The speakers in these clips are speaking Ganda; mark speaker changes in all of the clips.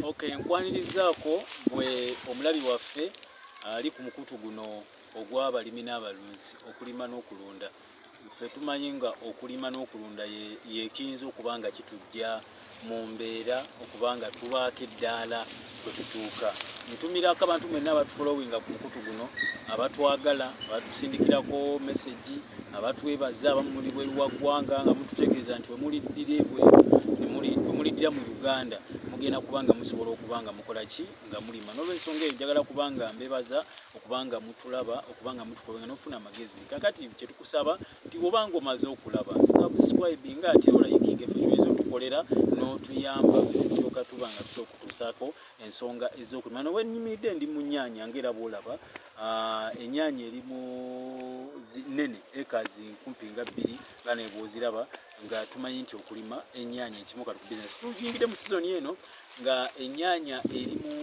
Speaker 1: Okay, nkwanirizaako gwe omulabi waffe ali ku mukutu guno ogw'abalimi n'abalunzi okulima n'okulunda ffe tumanyi nga okulima n'okulunda yekiyinza okuba nga kitujja mu mbeera okuba nga tubaako eddaala kwetutuuka ntumira ko abantu mwenna abatufolowinga ku mukutu guno abatwagala abatusindikirako mesegi abatwebaza abamu muli bweru wa ggwanga nga mututegeeza nti wemuliddira ebwe wemuliddira mu uganda mugenda kuba nga musobola okuba nga mukola ki nga mulima nolwensonga eyo njagala kuba nga mbebaza okuba nga mutulaba okuba nga mutufolowinga nofuna amagezi kakati kyetukusaba nti woba nga omaze okulaba subscribe nga ate olayikinga efe kyoyinza otukolera n'otuyamba fetyoka tuba nga tusa okutuusaako ensonga ez'okulima noba enyimiridde ndi mu nyaanya nga era bwolaba ah, enyaanya eri mu nene ekazi nkumpi nga bbiri nga nebwoziraba nga tumanyi nti okulima enyaanya ekimu kati ku bizinesi tuyingidde mu sizoni eno nga enyaanya eri mu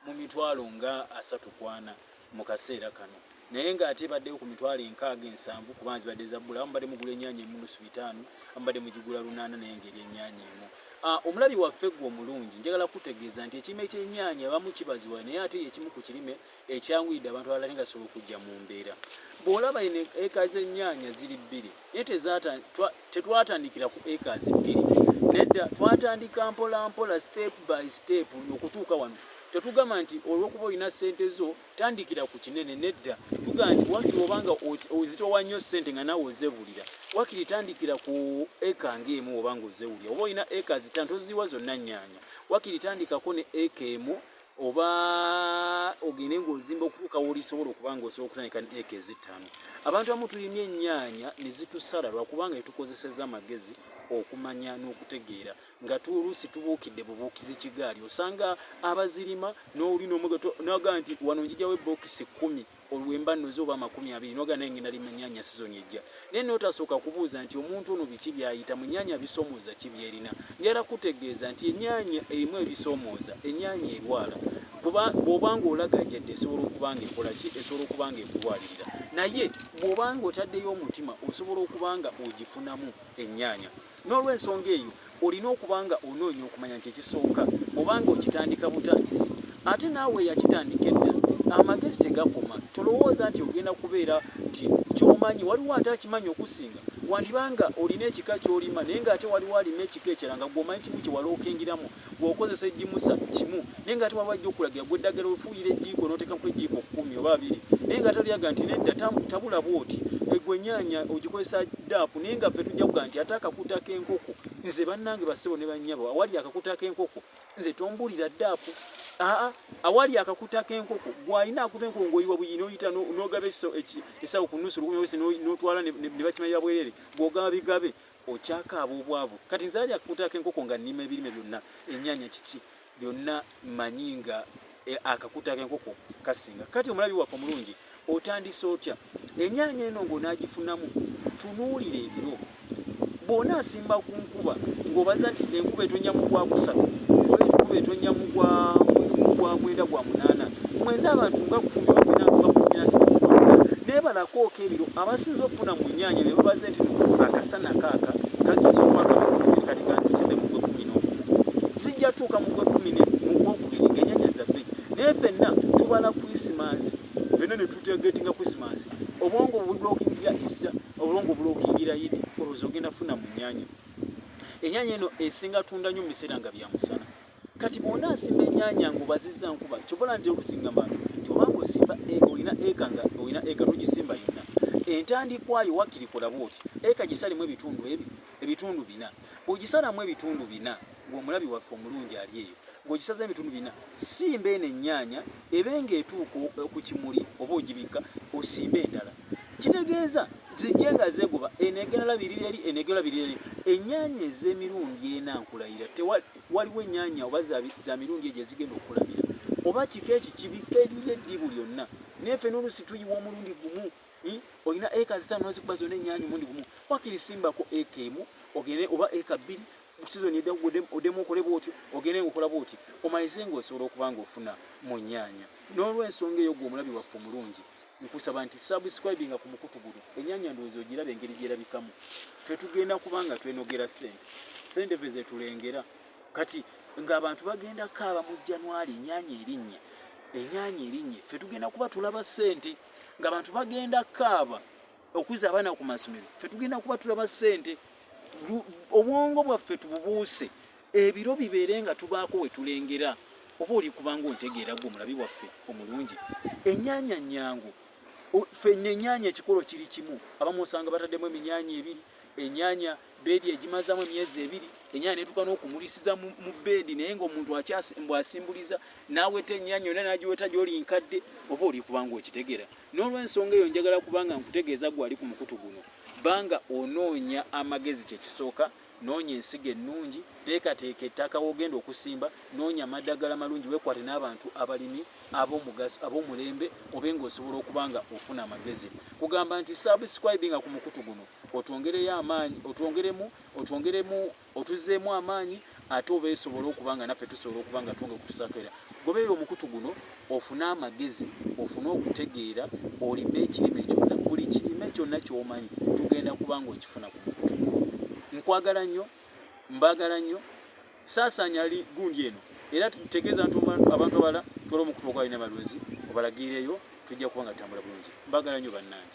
Speaker 1: mu mitwalo nga asatu kwana mu kaseera kano naye nga ate baddeyo ku mitwalo enkaaga ensanvu kuba nzibadde zabbula amu badde mugula ennyanya emu lusu bitaano amu badde mugigula lunaana naye ngeri ennyanya emu ah, omulabi waffe gwe omulungi njagala kutegeeza nti ekirime ky'ennyanya abamu kibaziwa naye ate ekimu ku kirime ekyanguyidde abantu abalala nga sobola okujja mu mbeera bw'olaba eno eka z'ennyanya ziri bbiri naye tetwatandikira ku acres bbiri nedda twatandika mpola mpola step by step okutuuka wano tetugamba nti olwokuba olina sente zo tandikira ku kinene nedda tugamba nti wakiri obanga ozitowa nnyo sente nga nawe ozebulira wakiri tandikira ku eka ngaemu obanga ozewulira oba olina eka zitano toziwa zonna nyanya wakiri tandikako ne eka emu oba ogende ng'ozimba okutuuka wolisobola okuba nga osobola okutandika ne eka ezittaano abantu abamu tulimye ennyaanya ne zitusala lwakubanga etukozeseza amagezi okumanya n'okutegeera nga tuoluusi tubuukidde bubuukizi kigaali osanga abazirima n'oli n'omugaga nti wano njijawo ebbookisi kkumi olwemba noze oba amakumi abiri noga naye ngenda lima nyanya sizoni ejja naye notasooka kubuuza nti omuntu ono biki byayita mu nyanya bisomooza ki byerina njala kutegeeza nti enyanya erimu ebisomooza enyanya erwala kuba bwobanga olagajadde esobola okubanga ekola ki esobola okubanga ekulwalirira naye bwobanga otaddeyo omutima osobola okubanga ogifunamu enyanya N'olw'ensonga eyo, olina okuba nga onoonya okumanya nti ekisooka oba nga okitandika butandisi. Ate naawe eyakitandika edda, amagezi tegakoma. Tolowooza nti ogenda kubeera nti ky'omanyi waliwo ate akimanyi okusinga. Wandiba nga olina ekika ky'olima naye nga ate waliwo alima ekika ekirala nga gwe omanyi kimu kye walookingiramu. bw'okozesa egimusa kimu naye nga ate waba ajja okulagira gwe eddagala ofuuyira ejiiko n'oteekamu ejiiko kkumi oba abiri naye nga ate olyaga nti nedda tabula bwoti egwe enyaanya ogikozesa daapu naye nga ffe tujja kuga nti ate akakuta k'enkoko nze bannange bassebo ne bannyabo awali akakuta k'enkoko nze tombulira daapu aa awali akakuta k'enkoko gwalina akuta enkoko ng'oyiwa buyi n'oyita n'ogaba esawo ku nusu lukumyawesi n'otwala ne bakimanya bwerere gw'ogaba bigabe okyakaaba obwavu kati nzali akakutako enkoko nga nnima ebirime byonna ennyanya kiki byonna manyi nga e, akakutako enkoko kasinga kati omulabi waffe omulungi otandise otya ennyanya eno ng'onaagifunamu tunuulira ebiro bw'ona asimba ku nkuba ng'obaza nti enkuba etonnya mu gwakusatu oba enkuba etonnya mu gwa mwenda gwa munaana Mwena abantu nga kumi bafina kuba kumina sikumukwaga naye banakooka ebiro abasinza okufuna mu nyaanya ne babaze nti akasana kaaka kageza okwaka mukubiri kati kanziside mu gwe kumi n'okumu sijja tuuka mu gwe kumi ne mu gwokubiri ng'enyaanya zaffe naye fenna tubala krisimansi fenna ne tutegetinga krisimansi obwongo bulokingira ista obulongo bulokingira yidi olwoza ogenda funa mu nyaanya enyaanya eno esinga tunda nnyo mu biseera nga bya musana kati bwona asimba enyanya nga obaziza nkuba kyobola nti olusingama nti obanga osimba e, olina eka nga olina eka nogisimba yonna entandikwayo wakiri kolaba oti eka gisalimu ebitundu ebi ebitundu bina ogisalamu ebitundu bina ng'omulabi waffe omulungi ali eyo ng'ogisaza ebitundu bina simba eno ennyanya ebe ng'etuuka ku kimuli oba ogibikka osimba endala kitegeeza zijje nga zeegoba eneegerala biriri eri eneegerala biriri eri ennyanya ez'emirundi ena nkulayira waliwo ennyanya oba za mirundi egyo ezigenda okulamira oba kika eki kibika erina eddibu lyonna naye fe n'oluusi tuyiwa omulundi gumu hmm? olina eka zitaano nozikuba zonna ennyanya omundi gumu wakiri simbako eka emu ogende oba eka bbiri sizoni edda odemu okole bwotyo ogende ngaokola bwoti omalize ngaosobola okuba ngaofuna mu nnyanya n'olwensonga eyo gwe omulabi waffe omulungi nkusaba nti subscribinga ku mukutu guno enyanya ndowooza ogiraba engeri gyerabikamu tetugenda kubanga twenogera sente sente ve zetulengera kati ng'abantu bagenda kaaba mu januari enyanya erinnya enyanya erinnya fe tugenda kuba tulaba sente ng'abantu bagenda kaaba okuza abaana ku masomero fe tugenda kuba tulaba sente obwongo bwaffe tububuuse Ebiro bibeere nga tubaako we tulengera oba oli kubanga ontegeera gwe omulabi waffe omulungi ennyanya nnyangu fenna ennyanya ekikolo kiri kimu abamu osanga bataddemu eminyanya ebiri ennyanya beedi egimazaamu emyezi ebiri ennyanya netuuka n'okumulisiza mu beedi naye ngaomuntu akyasmbu asimbuliza n'aweta ennyanya yona nagiweta gyoli nkadde oba oli kubanga okitegera n'olwensonga eyo njagala kubanga nkutegeeza gwe ali ku mukutu guno banga onoonya amagezi kyekisooka noonya ensigo ennungi teekateeka ettaka wogenda okusimba noonya amaddagala malungi wekwate n'abantu abalimi abomugaso abomulembe obe nga osobola okuba nga ofuna amagezi kugamba nti subscribe nga ku mukutu guno otwongereyo amaanyi otwongeremu otwongeremu otuzeemu amaanyi ate oba esobola okuba nga naffe tusobola okuba nga twonge kutusakera gobeera omukutu guno ofune amagezi ofune okutegeera olime ekirime kyonna buli kirime kyonna kyomanyi tugenda kubanga okifuna ku mukutu nkwagala nnyo mbagala nnyo saasaanya li gundi eno era tutegeeza nti abantu abala twala omukutu ogwalina abalunzi obalagiireyo tujja kuba nga tambula bulungi mbagala nnyo bannange